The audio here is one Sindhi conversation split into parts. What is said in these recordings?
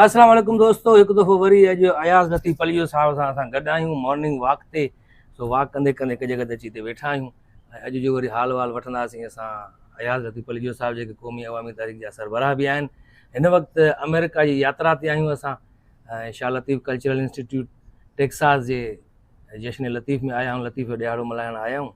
السلام عليڪم دوستو هڪ دفعو وري اڄ اياز لطيف پليو صاحب سان اسان گڏ آهيون مارننگ واڪ تي سو واڪ ڪندي ڪندي هڪ جڳھ تي اچي تي ويٺا آهيون ۽ اڄ جو وري حال وال وٺنداسين اسان اياز لطيف پليو صاحب جيڪي قومي عوامي تحريڪ جا سربراهه به آهن هن وقت آمريڪا جي ياترا تي آهيون اسان ۽ Shah Latif cultural institute Texas جي جشن لطيف ۾ آيا آهيون لطيف جو ڏهاڙو ملهائڻ آيا آهيون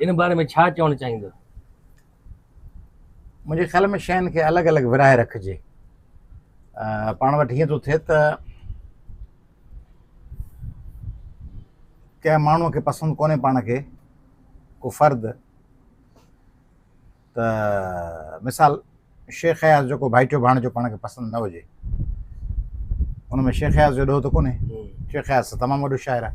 ان باري ۾ ڇا چوڻ چاهيندو؟ منهنجي خيال ۾ شين کي الڳ الڳ ورهائي رکجي. پاڻ وٽ هيئن ٿو ٿئي ته ڪنهن ماڻهوء کي پسند ڪونهي پاڻ کي ڪو فرد ته مثال شيخ اياز جو ڪو ڀائيٽيو ڀاڻيجو پاڻ کي پسند نه هجي ان ۾ شيخ اياز جو ڏوهه ته ڪونهي شيخ اياز ته تمام وڏو شاعر آهي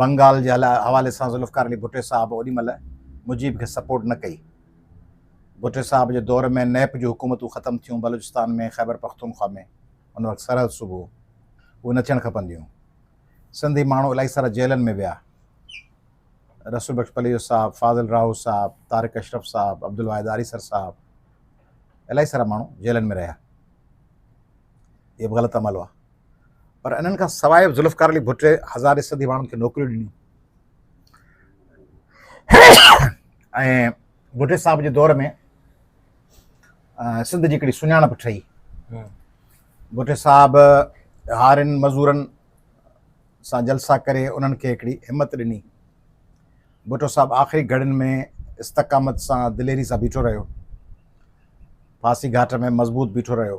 بنگال جي حوالي سان ذوالفقار علي ڀٽي صاحب اوڏي مهل مجيب کي سپورٽ نه ڪئي. ڀٽي صاحب جي دور ۾ نيپ جون حڪومتون ختم ٿيون، بلوچستان ۾ خيبر پختونخوا ۾ ان وقت سرحد صوبو هو، اهي نه ٿيڻ کپنديون. سنڌي ماڻهو الائي سارا جيلن ۾ ويا. رسول بخش پليجو صاحب، فاضل راهو صاحب، طارق اشرف صاحب، عبدالواحد آريسر صاحب الائي سارا ماڻهو جيلن ۾ رهيا. اهي به غلط عمل هئا. پر انهن کان سواء به ذوالفقار علي ڀٽي هزارين سنڌي ماڻهن کي نوڪريون ڏنيون ۽ ڀٽي صاحب جي دور ۾ سنڌ جي هڪڙي سڃاڻپ ٺهي ڀٽي صاحب هارين مزورن سان جلسا ڪري انهن کي هڪڙي همت ڏني ڀٽو صاحب آخري گهڙين ۾ استقامت سان دليري سان بيٺو رهيو ڦاسي گهاٽ ۾ مضبوط بيٺو رهيو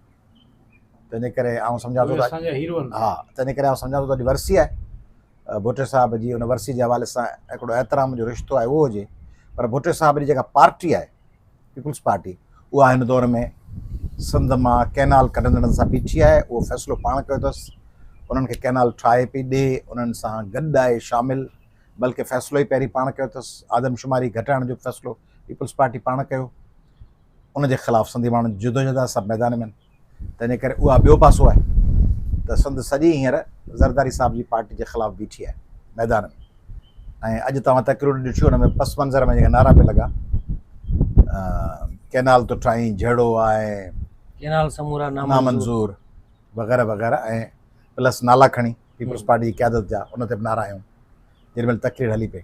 تنهنجي ڪري آئون سمجهان ٿو ها تنهنجي ڪري آئون سمجهان ٿو ته ورسي آهي ڀٽي صاحب جي ان ورسي جي حوالي سان هڪڙو احترام جو رشتو آهي اهو هجي پر ڀٽي صاحب جي جيڪا پارٽي آهي پيپلز پارٽي اها هن دور ۾ سنڌ ماں ڪينال ڪڍندڙن سان بيٺي آهي اهو فيصلو پاڻ ڪيو اٿس انهن کي ڪينال ٺاهي پئي ڏي انهن سان گڏ آهي شامل بلڪه فيصلو ئي پهرين پاڻ ڪيو اٿس آدمشماري گهٽائڻ جو فيصلو پيپلز پارٽي پاڻ ڪيو ان جي خلاف سنڌي ماڻهن جدوجهد آهي سڀ ميدان ۾ تنهنجي ڪري اها ٻيو پاسو آهي ته سنڌ سڄي هينئر زرداري صاحب جي پارٽي جي خلاف بيٺي آهي ميدان ۾ ۽ اڄ توهان تقرير ڏٺيون ان ۾ پس منظر ۾ جيڪا نعرا پي لڳا ڪينال تو ٺاهين جهڙو آهي ڪينال سمورا نامنظور وغيرہ وغيرہ ۽ پلس نالا کڻي پيپلز پارٽي جي قيادت جا ان تي بنا رہا آهيون جن مل تقرير هلي پئي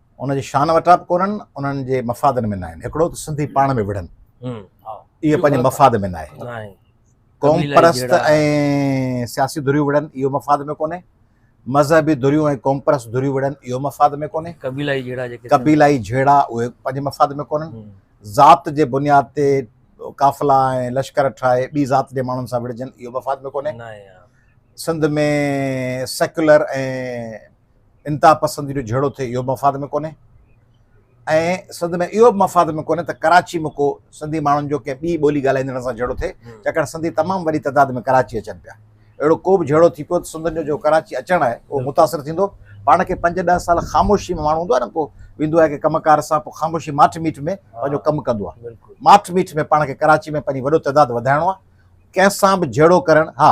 ان جي شان وٽان به ڪونهن انهن جي مفادن ۾ ناهن هڪڙو ته سنڌي پاڻ ۾ وڙهن اهي پنهنجي مفاد ۾ ناهي قوم پرست ۽ سياسي ڌريون وڙهن اهو مفاد ۾ ڪونهي مذهبي ڌريون ۽ قوم پرست ڌريون وڙهن اهو مفاد ۾ ڪونهي قبيلائي جهيڙا جيڪي قبيلائي جهيڙا اهي پنهنجي مفاد ۾ ڪونهن ذات جي بنياد تي قافلا ۽ لشڪر ٺاهي ٻي ذات جي ماڻهن سان وڙهجن اهو مفاد ۾ ڪونهي سنڌ ۾ سيڪولر ۽ انتها پسندي جو جهيڙو ٿئي اهو به مفاد ۾ ڪونهي ۽ سنڌ ۾ اهو به مفاد ۾ ڪونهي ته ڪراچي ۾ ڪو سنڌي ماڻهن جو ڪنهن ٻي ٻولي ڳالهائيندڙن سان جهيڙو ٿئي ڇاڪاڻ سنڌي تمام وڏي تعداد ۾ ڪراچي اچن پيا اهڙو ڪو به جهيڙو ٿي پيو ته سنڌن جو جو ڪراچي اچڻ آهي اهو متاثر ٿيندو پاڻ کي پنج ڏهه سال خاموشي ۾ ماڻهو هوندو آهي نه ڪو ويندو آهي ڪي ڪم ڪار سان پوء خاموشي ماٺ ميٺ ۾ پنهنجو ڪم ڪندو آهي ماٺ ميٺ ۾ پاڻ کي ڪراچي ۾ پنهنجي وڏو تعداد وڌائڻو آهي ڪنهن سان به جهيڙو ڪرڻ ها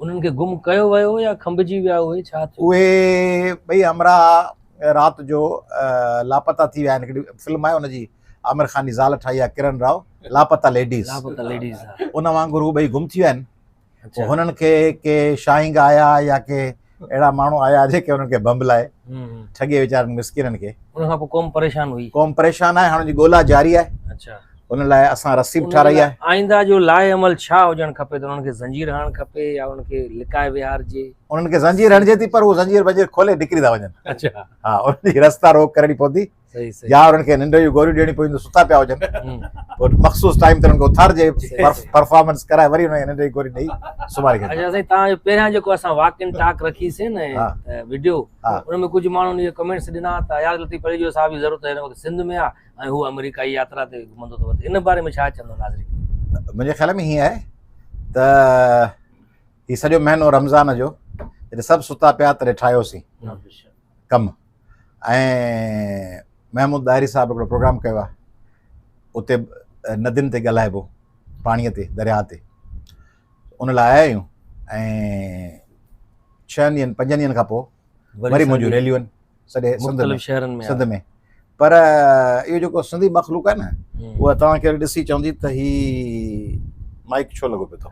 انهن کي گم ڪيو ويو يا کنڀجي ويا اهي ڇا ٿيو؟ اهي ٻئي همراهه رات جو لاپتا ٿي ويا آهن هڪڙي فلم آهي ان جي عامر خان جي زال ٺاهي آهي ڪرن راء لاپتا ليڊيز لاپتا ليڊيز ان وانگر هو ٻئي گم ٿي ويا آهن هنن کي ڪي شاهينگ آيا يا ڪي اهڙا ماڻهو آيا جيڪي انهن کي بمب لائي ٺڳي ويچارن مسڪينن کي ان کان پوء قوم پريشان هئي قوم پريشان آهي هاڻ جي ڳولا جاري آهي ان لاء اسان رسي به ٺاراهي آهي آئنده جو لاء عمل ڇا هجڻ کپي ته انهن کي زنجير هڻڻ کپي يا انهن کي لڪائي ويهارجي انهن کي زنجير هڻجي ٿي پر هو زنجير بنجير کولي نڪري ٿا وڃن اچا ها انهن جي رستا روڪ ڪرڻي پوندي يا انهن کي ننڊ جون گوريون ڏيڻي پونديون ستا پيا هجن پوء مخصوص ٽائيم تي انهن کي اٿارجي پرفارمنس ڪرائي وري انهن کي ننڊ جي گوري ڏيئي سمهاري کي اچا سائين تان جو پهريان جيڪو اسان واڪ ان ٽاڪ رکي سين ويڊيو ان ۾ ڪجهه ماڻهن جي ڪمنٽس ڏنا ته يار لطيف پليجو صاحب جي ضرورت هن وقت سنڌ ۾ آ ۽ هو آمريڪائي ياترا تي گهمندو ٿو وتي ان باري ۾ ڇا چوندو ناظرين منهنجي خيال ۾ هيئن آهي ته هي سڄو مهينو رمضان جو جڏهن سڀ ستا پيا تڏهن ٺاهيوسين ڪم ۽ محمود ڏاهري صاحب هڪڙو پروگرام ڪيو آهي اتي ندين تي ڳالهائبو پاڻيء تي درياهه تي ان لاء آيا آهيون ۽ ڇهن ڏينهن پنجن ڏينهن کان پوء وري منهنجون ريليون آهن سڄي سنڌ ۾ شهرن ۾ سنڌ ۾ پر اهو جيڪو سنڌي مخلوق آهي نه اها توهان کي ڏسي چوندي ته هي مائڪ ڇو لڳو پيو اٿو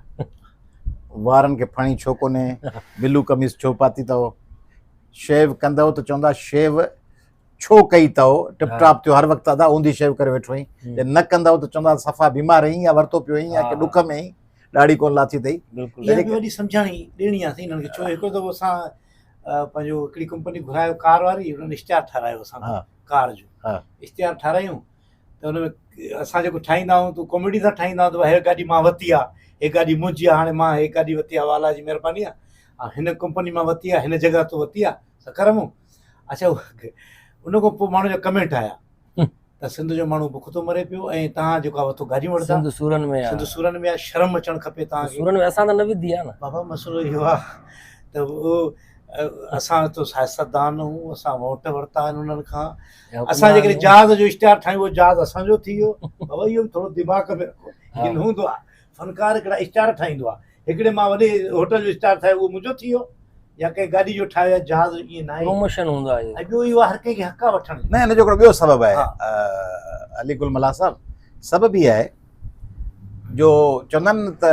وارن کي ڦڻي ڇو ڪونهي بلو قميص ڇو پاتي اٿو شيو ڪندو ته چوندا شيو ڇو ڪئي تئو ٽپ ٽاپ ٿيو هر وقت ادا اوندي شيو ڪري ويٺو هين جي نه ڪندئو ته چوندا صفا بيمار هين يا ورتو پيو هين يا ڪي ڏک ۾ هين ڏاڙهي ڪون لاٿي تئي بلڪل اها وڏي سمجهاڻي ڏيڻي آ سين کي ڇو هڪڙو دفعو اسان پنهنجو هڪڙي ڪمپني گهرايو ڪار واري انهن اشتهار ٺارايو اسان ڪار جو اشتهار ٺارايون ته ان ۾ اسان جيڪو ٺاهيندا آهيون تو ڪاميڊي سان ٺاهيندا آهيون ته هي گاڏي مان ورتي آ هي گاڏي منهنجي آ هاڻي مان هي گاڏي ورتي آ الا جي مهرباني آ هن ڪمپني مان ورتي آ هن جڳهه تو ورتي آ ته ڪرمون اچا ان کان پوء ماڻهو جا ڪمينٽ آيا ته سنڌ جو ماڻهو بک ٿو مري پيو ۽ تان جيڪو وٿو گاڏيون وٺندا سنڌ سورن ۾ سنڌ سورن ۾ شرم اچڻ کپي تان سورن ۾ اسان ته نه وڌي آ نه بابا مسئلو اهو آ ته او اسان تو سياستدان هون اسان ووٽ ورتا آهن انهن کان اسان جيڪڏهن جهاز جو اشتهار ٺاهيون جهاز اسان جو ٿي ويو بابا اهو ٿورو دماغ ۾ رکو ان هوندو آ فنڪار هڪڙا اسٽار ٺاهيندو آهي هڪڙي مان وڏي هوٽل جو اسٽار ٺاهي اهو منهنجو ٿي ويو يا ڪنهن گاڏي جو ٺاهيو يا جهاز جو ائين ناهي پروموشن هوندو آهي اهو ٻيو اهو آهي هر ڪنهن کي حق آهي وٺڻ جو نه ان جو هڪڙو ٻيو سبب آهي ها علي گل ملاح صاحب سبب هي آهي جو چوندا آهن نه ته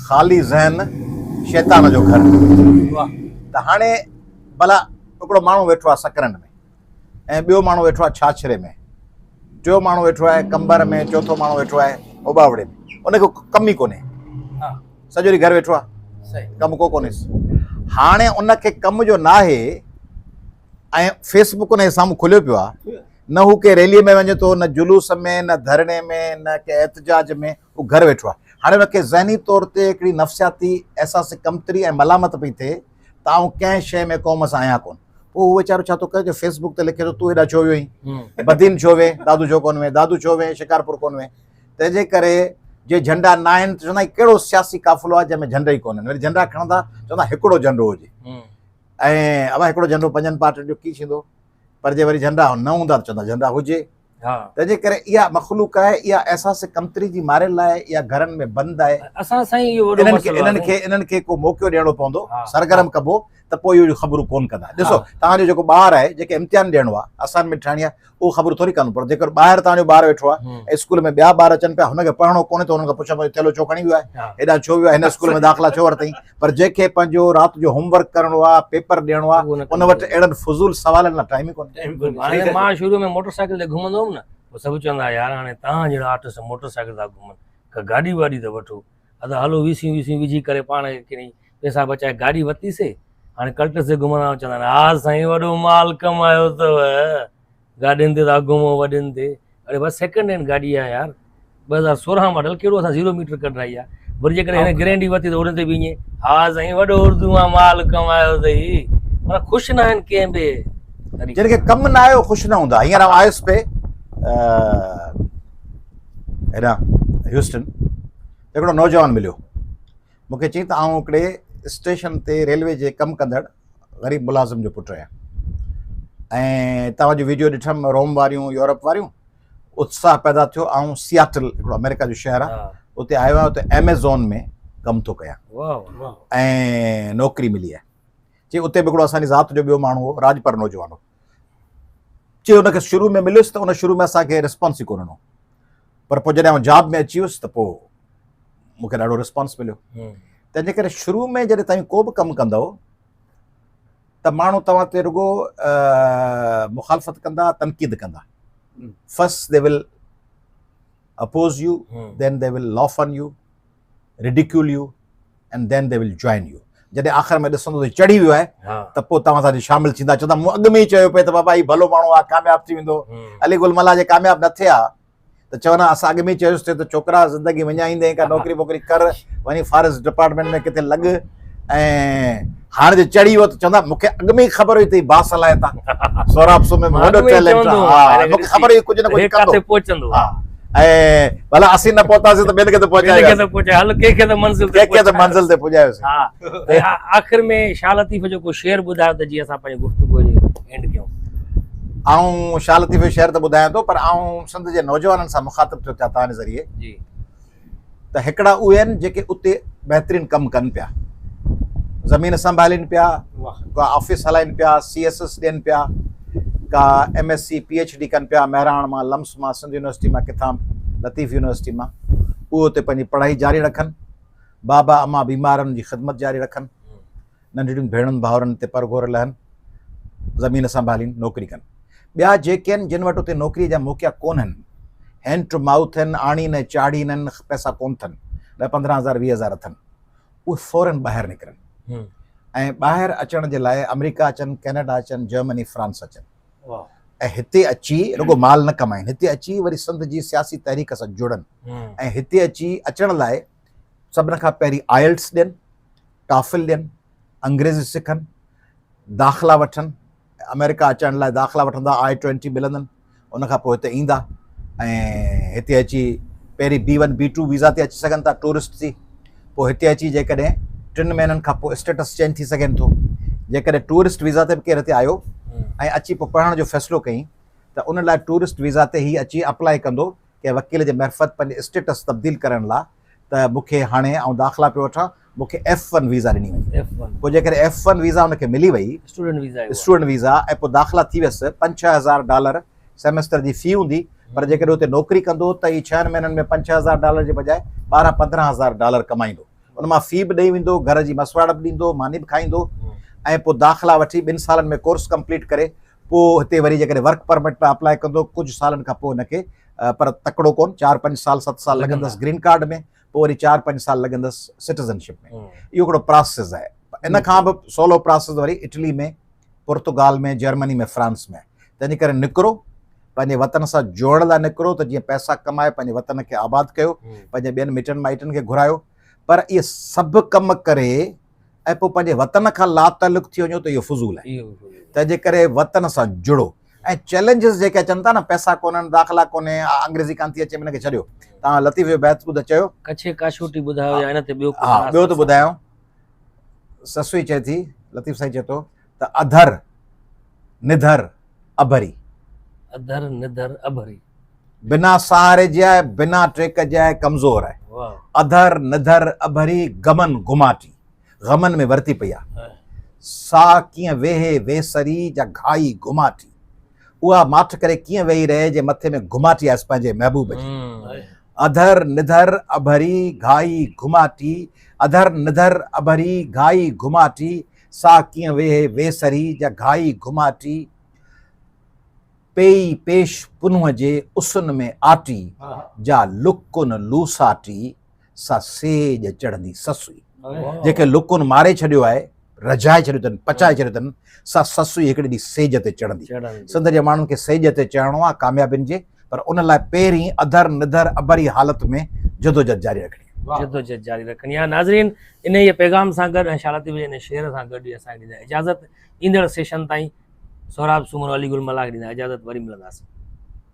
خالي ذهن شيطان جو گهر واه ته هاڻي ڀلا هڪڙو ماڻهو ويٺو آهي سڪرنڊ ۾ ۽ ٻيو ماڻهو ويٺو آهي ڇاڇري ۾، ٽيون ماڻهو ويٺو آهي قنبر ۾، چوٿون ماڻهو ويٺو آهي اوٻاوڙي ۾، ان کي ڪم ئي ڪونهي، سڄو ڏينهن گهر ويٺو آهي، ڪم ڪو ڪونهيس. هاڻي ان کي ڪم جو ناهي ۽ فيس بڪ ان جي سامهون کليو پيو آهي، نه هو ڪنهن ريلي ۾ وڃي ٿو، نه جلوس ۾، نه ڌرڻي ۾، نه ڪنهن احتجاج ۾، هو گهر ويٺو آهي. هاڻي هن کي ذهني طور تي هڪڙي نفسياتي احساس ڪمتري ۽ ملامت پئي ٿئي ته آئون ڪنهن شيء ۾ قوم سان آهيان ڪونه. پوء هو ويچارو ڇا ٿو ڪري جو فيس بڪ تي لکي ٿو تون هيڏانهن ڇو ويو هئين؟ بدين ڇو وئين؟ دادو ڇو ڪونه وئين؟ دادو ڇو وئين شڪارپور ڪونه وئين؟ تنهن جي ڪري جي جهنڊا نه آهن ته چوندا هي ڪهڙو سياسي قافلو آهي جنهن ۾ جهنڊا ئي ڪونهن. وري جهنڊا کڻندا چوندا هڪڙو جهنڊو هجي. ۽ اڀا هڪڙو جهنڊو پنجن پارٽين جو ڪي ڇيندو؟ پر جي وري جهنڊا نه هوندا ته چوندا جهنڊا هجي. تنهنجي ڪري اها مخلوق آهي اها احساس ڪمتري جي مارين لاء اها گهرن ۾ بند آهي اسان سائين اهو وڏو مسئلو انهن کي انهن کي ڪو موقعو ڏيڻو پوندو سرگرم ڪبو ته پوء اهڙيون خبرون ڪون ڪندا ڏسو تهان جو جيڪو ٻار آهي جيڪي امتحان ڏيڻو آهي اسائنمنٽ ٺاهڻي آهي اهو خبر ٿوري ڪندو پر جيڪر ٻاهر تهان جو ٻار ويٺو آهي ۽ اسڪول ۾ ٻيا ٻار اچن پيا هن کي پڙهڻو ڪونهي ته هنن کان پڇو ٿيلو ڇو کڻي ويو آهي هيڏانهن ڇو ويو آهي هن اسڪول ۾ داخلا ڇو ورتئي پر جنهن کي پنهنجو رات جو هوم ورڪ ڪرڻو آ پيپر ڏيڻو آ ان وٽ اهڙن فضول سوالن لا ٽائيم ئي ڪونهي هاڻي مان شروع ۾ موٽر سائيڪل تي گهمندو هوم نه پوء سڀ چوندا ها يار هاڻي تهان جهڙا آرٽسٽ موٽر سائيڪل ٿا گهمن ڪا گاڏي واڏي ته وٺو ادا هلو ويسيون ويسيون وجهي ڪري پاڻ کي ڪني پيسا بچائي گاڏي ورتي سي هاڻي ڪلٽس تي گهمندا آهيون چوندا آهن ها سائين وڏو مال ڪمايو اٿو. گاڏين تي ته اگهه مون وڏين تي اڙي بس سيڪنڊ هينڊ گاڏي آهي يار ٻه هزار سورهن ماڊل ڪهڙو اسان زيرو ميٽر ڪڍرائي آهي وري جيڪڏهن هن گرينڊي ورتي ته ان تي بي ائين ها سائين وڏو اردو مان مال ڪمايو اٿئي مطلب خوش نه آهن ڪنهن به جن کي ڪم نه آيو خوش نه هوندا هينئر آئون آيس پي هيڏا هيوسٽن هڪڙو نوجوان مليو مونکي چيائين ته آئون هڪڙي اسٽيشن تي ريلوي جي ڪم ڪندڙ غريب ملازم جو پٽ آهيان ۽ توهان جون ويڊيو ڏٺم روم واريون يورپ واريون اتساهه پيدا ٿيو آئون سياٽل هڪڙو آمريڪا جو شهر آهي اتي آيو آهيان اتي ايميزون ۾ ڪم ٿو ڪيان ۽ نوڪري ملي آهي چي اتي به هڪڙو اسان جي ذات جو ٻيو ماڻهو هو راجپر نوجوان هو چي ان کي شروع ۾ مليس ته ان شروع ۾ اسان کي رسپانس ئي ڪونه ڏنو پر پوء جڏهن آئون جاب ۾ اچي ويس ته پوء مون کي ڏاڍو رسپانس مليو تنهنجي ڪري شروع ۾ جڏهن توهين ڪو به ڪم ڪندو ته ماڻهو توهان تي رڳو مخالفت ڪندا تنقيد ڪندا first they will oppose you then they will laugh on you ridicule you and then they will join you جڏهن آخر ۾ ڏسندو ته چڙهي ويو آهي ته پوء توهان سان شامل ٿيندا چوندا مون اڳ ۾ ئي چيو پئي ته بابا هي ڀلو ماڻهو آهي ڪامياب ٿي ويندو علي گل ملا جي ڪامياب نه ٿيا ته چونا اسان اڳ ۾ ئي چيوسي ته ڇوڪرا زندگي وڃائيندين ڪا نوڪري ووڪري ڪر وڃي فاريسٽ ڊپارٽمنٽ ۾ ڪٿي لڳ ۽ هاڻ جي چڙهي ويو ته چوندا مون کي اڳ ۾ ئي خبر هئي ته هي باصلاحيت آ سهراب سومري ۾ وڏو ٽيلنٽ آ ها مون کي خبر هئي ڪجهه نه ڪجهه ڪندو ڪٿي پهچندو ها ۽ ڀلا اسين نه پهتاسين ته ٻين کي ته پهچائي وياسين هل ڪنهن کي ته منزل تي ڪنهن کي ته منزل تي پڄايوسين ها ۽ آخر ۾ شاهه لطيف جو ڪو شعر ٻڌايو ته جيئن اسان پنهنجي گفتگو جي اينڊ ڪيون آئون شاهه لطيف جو شعر ته ٻڌايان ٿو پر آئون سنڌ جي نوجوانن سان مخاطب ٿيو ٿيان توهان جي ذريعي جي ته هڪڙا اهي آهن جيڪي اتي بهترين ڪم ڪن پيا زمين سنڀالين پيا ڪا آفيس هلائين پيا سي ايس ايس ڏين پيا ڪا M S C P H D ڪن پيا مهراڻ مان لمس مان سنڌ يونيورسٽي مان ڪٿان لطيف يونيورسٽي مان اهو اتي پنهنجي پڙهائي جاري رکن بابا اما بيمارن جي خدمت جاري رکن ننڍڙين ڀيڻن ڀائرن تي پر گهور لهن، زمين سنڀالين، نوڪري ڪن. ٻيا جيڪي آهن، جن وٽ اتي نوڪريء جا موقعا ڪونهن، هينڊ ٽو مائوٿ آهن، آڻين ۽ چاڙهين آهن، پئسا ڪونه ٿن، ڏهه پندرهن هزار ويهه هزار اٿن، اهي فورين ٻاهر نڪرن ۽ ٻاهر اچڻ جي لاء آمريڪا اچن، ڪينيڊا اچن، جرمني، فرانس اچن ۽ هتي اچي رڳو مال نه ڪمائين، هتي اچي وري سنڌ جي سياسي تحريڪ سان جڙن ۽ هتي اچي اچڻ لاء سڀني کان پهرين آئلٽس ڏين، ٽافل ڏين، انگريزي سکن، داخلا وٺن، آمريڪا اچڻ لاء داخلا وٺندا، آء ٽوئنٽي ملندن، ان کان پوء هتي ايندا ۽ هتي اچي پهرين B one B two visa تي اچي سگهن ٿا ٽوئرسٽ ٿي، پوء هتي اچي جيڪڏهن ٽن مهينن کان پوء اسٽيٽس چينج ٿي سگهين ٿو، جيڪڏهن ٽوئرسٽ ويزا تي به ڪير هتي آيو ۽ اچي پوء پڙهڻ جو فيصلو ڪيئين ته ان لاء ٽوئرسٽ ويزا تي هي اچي اپلائي ڪندو ڪنهن وڪيل جي معرفت پنهنجي اسٽيٽس تبديل ڪرڻ لا ته مون کي هاڻي آئون داخلا پيو وٺان مون کي ايف ون ويزا ڏني وڃي پوء جيڪڏهن ايف ون ويزا ان کي ملي وئي اسٽوڊنٽ ويزا ۽ پوء داخلا ٿي ويس پنج ڇهه هزار ڊالر سيمسٽر جي في هوندي پر جيڪڏهن اتي نوڪري ڪندو ته هي ڇهن مهينن ۾ پنج ڇهه هزار ڊالر جي بجاء ٻارهن پندرهن هزار ڊالر ڪمائيندو ان مان في به ڏئي ويندو گهر جي مسواڙ به ڏيندو ماني به کائيندو ۽ پوء داخلا وٺي ٻن سالن ۾ ڪورس ڪمپليٽ ڪري پوء هتي وري جيڪڏهن ورڪ پرمٽ ۾ اپلاء ڪندو ڪجهه سالن کان پوء هن کي پر تڪڙو ڪون چار پنج سال ست سال لڳندس گرين ڪارڊ ۾ پوء وري چار پنج سال لڳندس سٽيزن شپ ۾ اهو هڪڙو پراسيس آهي ان کان به سولو پراسيس وري اٽلي ۾ پورتگال ۾ جرمني ۾ فرانس ۾ تنهنجي ڪري نڪرو پنهنجي وطن سان جوڙڻ لاء نڪرو ته جيئن پئسا ڪمائي پنهنجي وطن کي آباد ڪيو پنهنجي ٻين مٽن مائٽن کي گهرايو پر اهي سڀ ڪم ڪري ۽ پوء پنهنجي وطن کان لاتعلق ٿي وڃو ته اهو فضول آهي تنهنجي ڪري وطن سان جڙو ۽ چئلينجز جيڪي اچن ٿا نه پئسا ڪونهن داخلا ڪونهي انگريزي ڪانه ٿي اچي منهن کي ڇڏيو تان لطيف جو بيت ٻڌ چيو ڪڇي ڪاشوٽي ٻڌايو يا ان تي ٻيو ها ٻيو ته ٻڌايو سسوئي چئي ٿي لطيف سائين چئي ٿو ته اڌر، نڌر، اڀري. اڌر، نڌر، اڀري. بنا سهاري جي آهي، بنا ٽيڪ جي آهي، ڪمزور آهي. اڌر، نڌر، اڀري، غمن گهماٽي، غمن ۾ ورتي پئي آهي. سا ڪيئن ويهي ويسري جا گهائي گهماٽي. اها ماٺ ڪري ڪيئن ويهي رهي جي مٿي ۾ گهماٽي آيس پنهنجي محبوب جي. اڌر، نڌر، اڀري، گهائي گهماٽي، اڌر، نڌر، اڀري، گهائي گهماٽي، ساهه ڪيئن ويهي ويسري جا گهائي گهماٽي، پيئي پيش پنهون جي اسن ۾ آٽي جا لڪن لوساٽي سا سيڄ چڙهندي سسئي. جيڪي لڪن ماري ڇڏيو آهي، رجهائي ڇڏيو اٿن، پچائي ڇڏيو اٿن، سا سسئي هڪڙي ڏينهن سيڄ تي چڙهندي. سنڌ جي ماڻهن کي سيڄ تي چڙهڻو آهي ڪاميابين جي پر ان لاء پهرين اڌر نڌر اڀري حالت ۾ جدوجھد جاري رکڻي. جدوجھد جاري رکڻي آهي ناظرين انهيء پيغام سان گڏ ۽ شالتي بينيء جي ان شعر سان گڏ ئي اسان کي ڏيندا اجازت ايندڙ سيشن تائين سهراب سومرو علي گل ملاح کي ڏيندا اجازت وري ملنداسين.